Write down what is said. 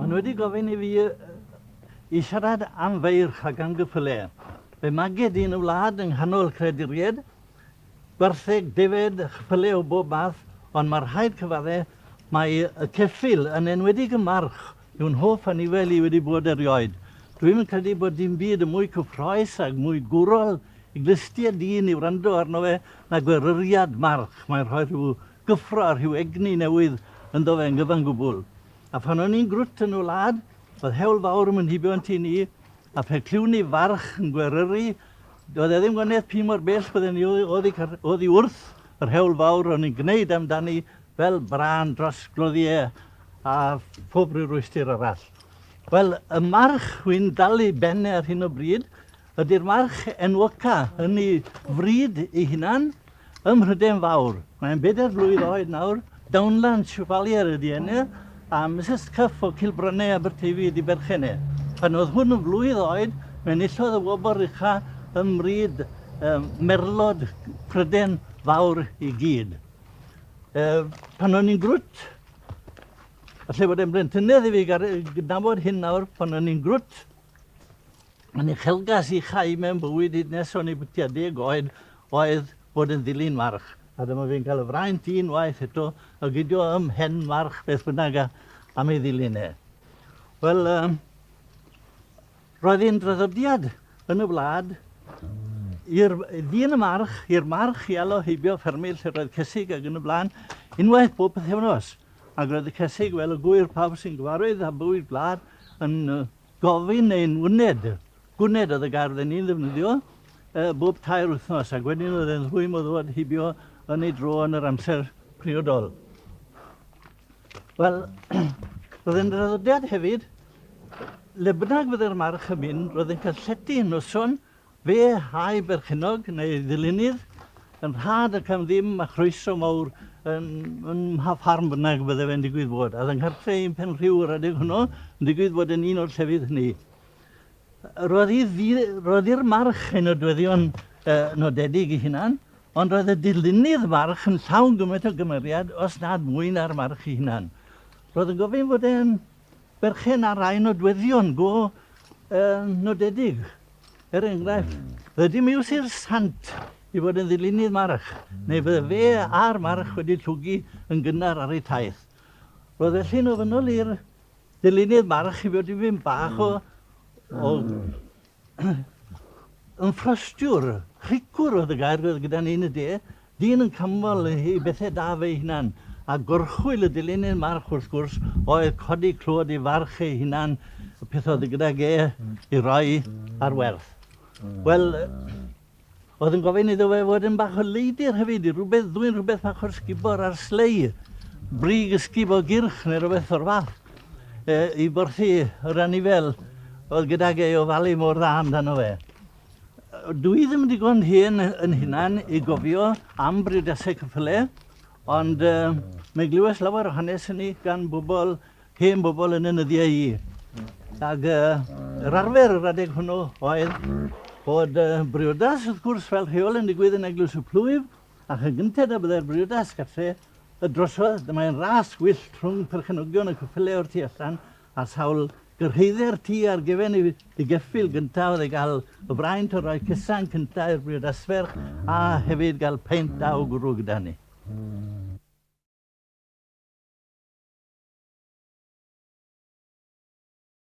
Maen wedi gofyn i fi i siarad am feirch ac am gyffyle. Fe maged i yn y wlad yng nghanol creaduried, gwartheg, defaid, chyffyle o bob math, ond mae rhaid cyfadde mae y ceffyl yn enwedig y march yw'n hoff anifail i wedi bod erioed. Dwi'm yn credu bod dim byd yn mwy cyffroes ac mwy gwrol i glustie dyn i wrando arno fe nag gweruriad march. Mae'n rhoi rhyw gyffro a rhyw egni newydd ynddo fe yn gyfan gwbl. A phan o'n i'n grwt yn y wlad, oedd hewl fawr yn fy nhibio yn tŷ ni, a phe clywn ni farch yn gweryru, doedd e ddim gwanieth pi mor bell bydden ni oddi, oddi wrth yr hewl fawr o'n i'n gwneud amdani fel brân dros gloddiau a phob rhyw rwystr arall. Wel, y march wy'n dalu benne ar hyn o bryd ydy'r march enwoca yn ei fryd ei hunan, Ym Mhrydain Fawr. Mae'n bedair blwydd oed nawr. Dawnlan Chevalier ydi enw e, a Misus Cuff o Cilbrynne, Aberteifi ydi berchen e. Pan oedd hwn yn flwydd oed, fe enillodd y wobr ucha ym mryd merlod Prydain Fawr i gyd. E, pan o'n i'n grwt, falle bod e'n blentynnedd i fi gydnabod hyn nawr, pan o'n i'n grwt, Yn uchelgais i chau mewn bywyd hyd nes o'n i bytia deg oed oedd bod yn ddilyn march, a dyma fi'n cael y fraint un waith eto o gydio ym mhen march beth bynnag a, am ei ddilyn e. Wel, um, roedd hi'n draddodiad yn y wlad i'r ddyn y march, i'r march i alo heibio ffermydd lle roedd cysig ac yn y blaen, unwaith bob pethefnos. Ac roedd y cysig fel y gwyr pawb sy'n gyfarwydd â bywyd gwlad, yn gofyn ein wned. Gwnned oedd y gair oedden ni'n ddefnyddio bob tair wythnos ac wedyn oedd e'n rhwym o ddŵad hibio yn ei dro yn yr amser priodol. Wel, roedd e'n draddodiad hefyd, le bynnag fydde'r march yn mynd, roedd e'n cael llety yn noson Fe a'i berchennog, neu ddilynydd, yn rhad ac am ddim, a chroeso mawr yn, yn mha ffarm bynnag y bydde fe'n digwydd bod. A oedd yng nghartre un Penrhiw yr adeg hwnnw yn digwydd bod yn un o'r llefydd hynny. Roedd hi ddi, roedd i'r march ei nodweddion uh, nodedig i hunan, ond roedd y dilynydd march yn llawn gymaint o gymeriad os nad mwy na'r march i hunan. Roedd yn gofyn fod e'n berchen ar rai nodweddion go nodedig. Er enghraifft, rydym i'w sir sant i fod yn ddilynydd march, neu fydde fe a'r march wedi llwgu yn gynnar ar eu taith. Roedd felly'n ofynnol i'r dilynydd march i fod i fynd bach o, o yn ffrostiwr, rhicwr oedd y gair gyda ni yn y de, Dyn yn canmol ei bethe da fe'i hunan, a gorchwyl y dilyniad march wrth gwrs oedd codi clod ei farch ei hunan, y peth oedd gydag e i roi ar werth. Wel, oedd yn gofyn iddo fe fod yn bach o leidr hefyd, i rhywbeth ddwyn rhywbeth bach o'r sgubor ar slei, brig ysgub o gyrch neu rhywbeth o'r fath, e, i borthi yr anifel oedd gydag e i ofalu mor dda amdano fe. Dw i ddim digon hen yn hunan i gofio am brydasau cyffyle, ond uh, mae glywes lawer o hanes hynny gan bobl, hen bobl yn y nyddiau i. Ac uh, yr arfer yr adeg hwnnw oedd bod uh, briodas, wrth gwrs, fel rheol yn digwydd yn Eglwys y Plwyf, ac yn gynted a byddai'r briodas gartre y drosodd, dymae'n ras wyllt rhwng perchenogion y cyffyle o'r tu allan a sawl gyrhaedder ti ar gefen i dy geffyl gynta oedd e gael y fraint o roi cysan cynta i'r brydasferch a hefyd gael peint da o gwrw gyda ni.